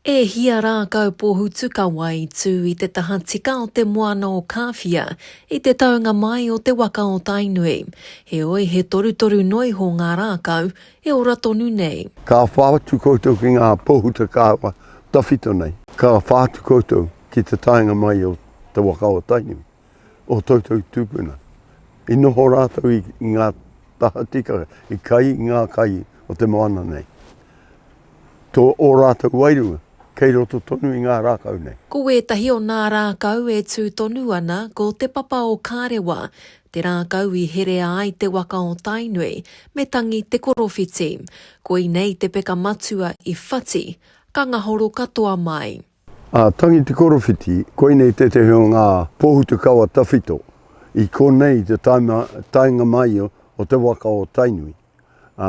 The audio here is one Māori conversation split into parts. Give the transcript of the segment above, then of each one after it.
E hia rākau pōhutu ka wai tū i te taha tika o te moana o Kāwhia i te taunga mai o te waka o Tainui. Heoi, he torutoru noa iho ngā rākau e ora tonu nei. Ka whā atu koutou ki ngā pōhuta kāwa tawhito nei. Ka whā atu koutou ki te taenga mai o te waka o Tainui. o toutou tupuna. I noho rātou i ngā tahatika, i kai ngā kai o te moana nei. Tō ō rātou wairua kei roto tonu i ngā rākau nei. Ko wētahi o nā rākau e tū tonu ana ko Te Papa o Kārewa, te rākau i herea ai te waka o Tainui, me tangi te korowhiti. Koinei te peka matua i whati, ka ngahoro katoa mai. A Tangi Te Korowhiti, koinei tētehi o ngā pōhutukawa tawhito i konei i te taenga mai o te waka o Tainui. Ā,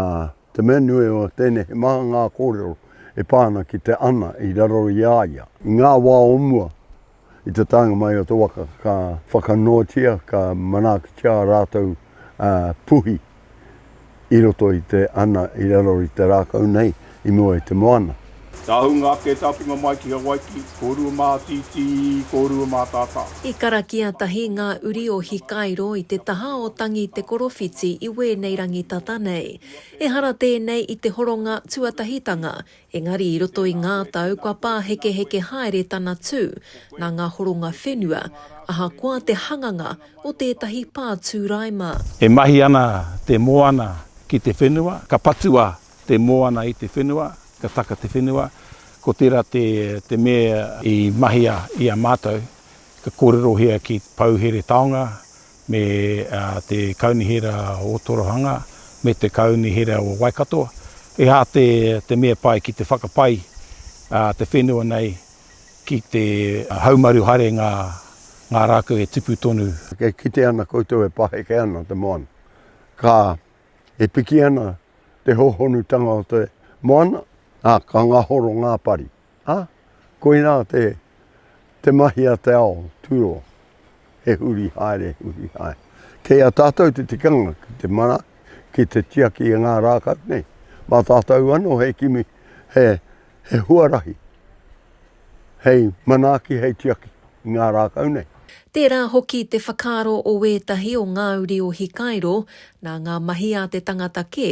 te mea nui o tēnei he maha ngā kōrero e pā ana ki te ana i raro i a ia. I ngā wā o mua, i te taenga mai o te waka ka whakanoatia, ka manaakitia ā rātou puhi i roto i te ana i raro i te rākau nei i mua i te moana. Ka hūnga ake te atunga mai ki Hawaiki, kōrua mātītī, kōrua mātātā. I karakia tahi ngā uri o Hikairo i te taha o Tangi Te Korowhiti i wēnei rangi tata nei. Ehara tēnei i te horonga tuatahitanga Engari i roto i ngā tau kua pāhekeheke haere tana tū nā ngā horonga whenua, ahakoa te hanganga o tētahi pātūraima. E mahi ana te moana ki te whenua, ka patua te moana i te whenua, ka taka te whenua, ko tērā te mea i mahia i a mātou, ka kōrerohia ki Pou Here Taonga, me te Kaunihera o Torohanga, me te Kaunihera o Waikato, he aha te mea pai ki te whakapai te whenua nei ki te haumaru haere ngā rākau e tipu tonu. E kite ana koutou e paheke ana te moana, ka e piki ana te hōhonutanga o te moana, ā, ka ngahoro ngā pari. Ā, koinā te, te mahi a te ao, turo, he huri haere, huri haere. Kei a tātou te tikanga ki te mana, ki te tiaki i ngā rākau nei. Mā tātou anō hei kimi, he, he huarahi, hei manaaki, hei tiaki i ngā rākau nei. Tērā hoki te whakaaro o ētahi o ngā uri o Hikairo, nā ngā mahi a te tangata kē,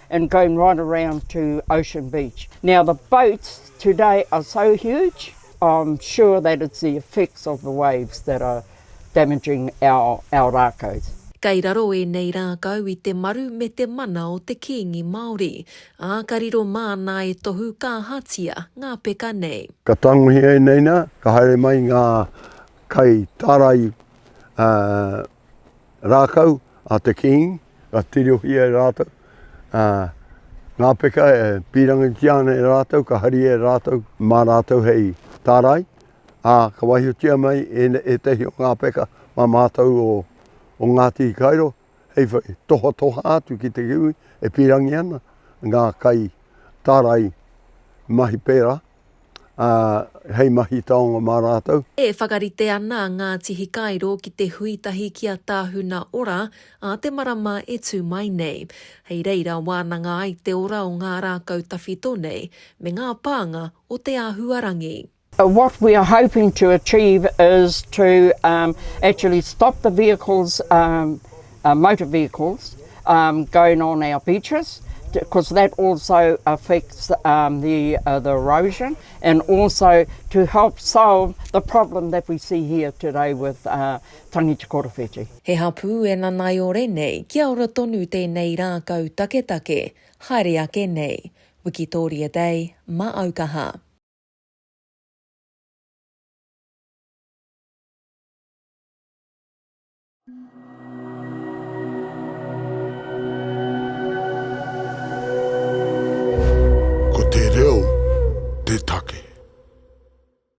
and going right around to Ocean Beach. Now the boats today are so huge, I'm sure that it's the effects of the waves that are damaging our our rākau. Kei raro ēnei rākau i te maru me te mana o te Kīngi Māori, ā, ka riro māna e tohu ka ahatia ngā peka nei. Ka tangohia ēnei nā, ka haere mai ngā kai tārai, ā, rākau a te Kīngi, ka tirohia e rātou, ā, ngā peka e pīrangitia ana e rātou, ka haria e rātou mā rātou hei tārai, ā, ka waihotia mai ētahi o ngā peka mā mātou o, o Ngāti Hikairo, hei whai tohatoha atu ki te kiwi e pīrangi ana ngā kai tārai mahi pērā. ā, hei mahi taonga mā rātou. E whakarite ana a Ngāti Hikairo ki te hui tahi ki a Tāhuna Ora ā te marama e tū mai nei. Hei reira wānanga ai te ora o ngā rākau tawhito nei, me ngā pānga o te āhuarangi. What we are hoping to achieve is to actually stop the vehicles motor vehicles going on our beaches because that also affects the erosion and also to help solve the problem that we see here today with Tangi Te Korowhiti. He hapū e nanaiore nei kia ora tonu tēnei rākau taketake, haere ake nei. Wikitoria Day, ma aukaha. Ko te reo te take.